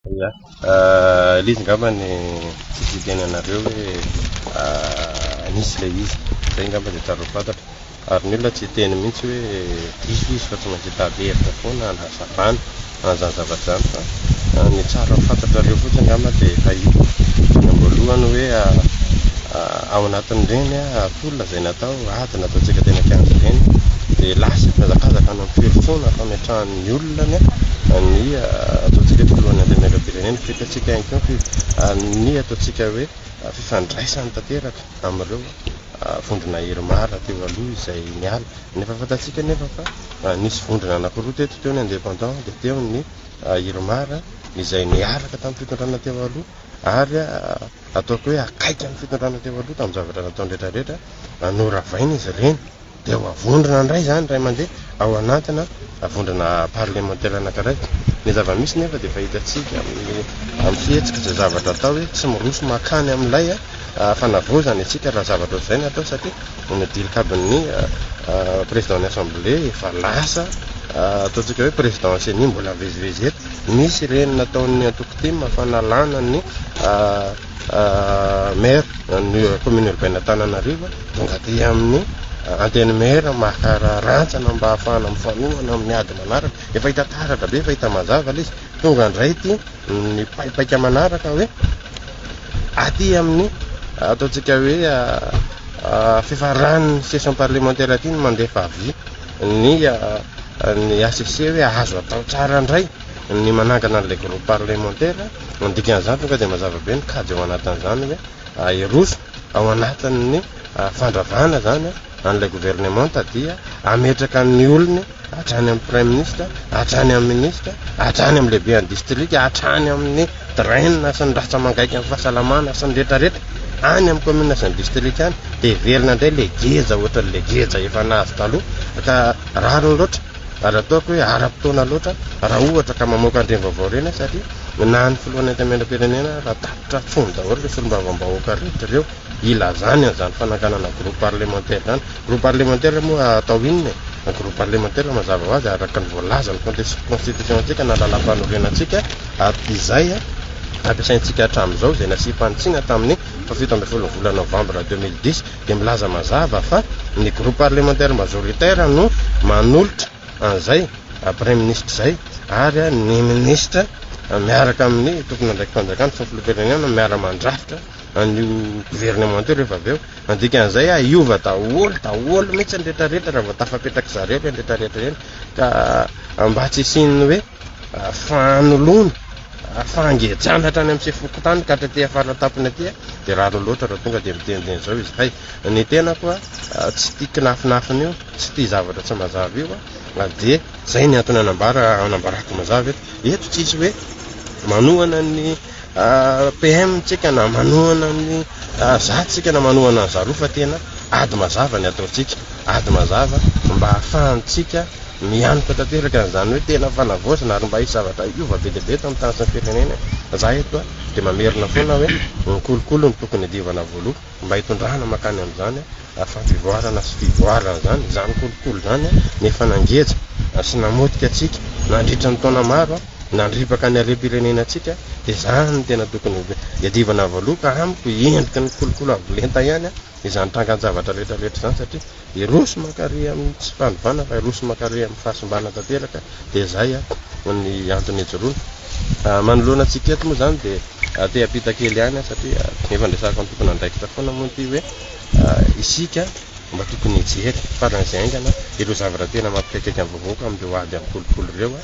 Ilay izy angambany tsy tsidihany anareo hoe nisy ilay izy, izay angamba dia tianareo fantatra. Ary ny olona tsy hiteny mihitsy hoe diso izy fa tsy maintsy hitady hevitra foana hanazavana an'izany zavatra izany fa ny tsara fantatrareo fotsiny angamba dia efa hita eny am-boalohany hoe ao anatin'ireny tolona izay natao, ady nataontsika teny an-kianja ireny dia lasa mihazakazaka any amin'ny firosoana fametrahana ny ny olona ny ataontsika hoe filohan'ny antenimieram-pirenena feky antsika ihany koa ny amin'ny ataontsika hoe fifandraisany tanteraka amin'ireo vondrona irmar teo aloha izay niala nefa fantatsika nefa fa nisy vondrona anankiroa teto teo ny indépendant dia teo ny irmar izay niaraka tamin'ny fitondrana teo aloha ary ataoko hoe akaiky amin'ny fitondrana teo aloha tamin'ny zavatra nataony rehetrarehetra noravaina izy ireny Dia ho avondrona indray izany iray mandeha ao anatina vondrona parlemantera anankiray. Ny zava-misy nefa dia efa hitantsika amin'ny amin'ny fihetsika izay zavatra atao hoe tsy miroso mankany amin'ilay fanavaozana isika raha zavatra ohatr'izay no atao satria ny dilikabin'ny président-n'ny assemblée efa lasa ataontsika hoe président ceni mbola mivezivezy eto. Misy ireny nataon'ny antoko tim fa nalana ny Maire ny commune urbaine Antananarivo tonga aty amin'ny antenimiera maka rantsana mba hahafahana mifanohana amin'ny ady manaraka efa hita taratra be efa hita mazava ilay izy tonga indray ity ny paipaika manaraka hoe aty amin'ny ataontsika hoe fifaran'ny session parlementaire aty ny mandefa avis ny ny ACC hoe azo atao tsara indray Ny manangana an'ilay groupe parlementaire, ny dikan'izany tonga dia mazava be ny kajy ao anatin'izany hoe ahiroso ao anatin'ny fandravana izany an'ilay governemanta dia hametraka ny olony hatrany amin'ny praiminisitra, hatrany amin'ny minisitra, hatrany amin'ny lehibean'ny distrika, hatrany amin'ny drainina sy ny ratra mangaika amin'ny fahasalamana sy ny retraretra any amin'ny kaominina sy ny distrika any dia hiverina indray ilay geja ohatran'ilay geja efa nahazo taloha ka rariny loatra. ary ataoko hoe ara-potoana loatra raha ohatra ka mamoaka an'ireny vaovao ireny aho satria na ny filohan'ny antenimierampirenena raha tapitra an-tsony daholo ireo solombavambahoaka rehetra ireo ilazany an'izany fanakanana groupe parlementaire izany. Groupe parlementaire moa atao inona e? Ny groupe parlementaire mazava ho azy araka ny voalaza ny contexte constitution-tsika na lalam-panorenantsika ary izay ampiasaintsika hatramin'izao izay nasiam-panitsiana tamin'ny fahafito ambin'ny folon'ny volana novambra deux mille dix dia milaza mazava fa ny groupe parlementaire majoritaire no manolotra an'izay praiminisitra izay ary ny minisitra miaraka amin'ny tompon'andraiki-panjakana sy ny filoham-pirenena miara-mandrafitra an'io governemanta io rehefa avy eo andikan'izay hiova daholo daholo mihitsy ny rehetra rehetra raha vao tafapetraka zareo ireny rehetra rehetra ireny ka mba tsy hisian'ny hoe fanoloana, fangejana hatrany amin'ny sefo fokontany ka hatraty afara tampony aty dia rariny loatra raha tonga dia miteniteny izao izy hay ny tena koa tsy tia kinafinafina io tsy tia zavatra tsy mazava io a dia zay ny antony anambara anambarako mazava eto eto tsisy hoe manohana ny PM tsika na manohana ny za tsika na manohana ny zareo fa tena ady mazava ny ataontsika ady mazava mba hahafahantsika mianoka tanteraka an'izany hoe tena fanavaozana ary mba hisy zavatra hiova be dia be eto amin'ny tany sy ny firenena za eto dia mamerina foana hoe ny kolikoly no tokony hidiovana voaloha Mba hitondrana mankany amin'izany fampivoarana sy fivoarana izany izany kolikoly izany no efa nangeja sy namotika antsika nandritra ny taona maro, nandripaka ny harem-pirenena antsika, dia izany no tena tokony hiadivana avoaloha ka amiko endriky ny kolikoly avo lenta ihany izany trangan-javatra rehetra rehetra izany satria. Hiroso mankary amin'ny tsy fanovana fa hiroso mankary amin'ny fahasimbana tanteraka dia izay ny antony ijoroana. Manoloana antsika eto moa izany dia te hampita kely ihany satria efa andresahan'ny tompon'andraikitra foana moa ity hoe isika mba tokony hijery faran'izay haingana ireo zavatra tena mampikaikaika ny vahoaka amin'ireo ady amin'ny kolikoly ireo.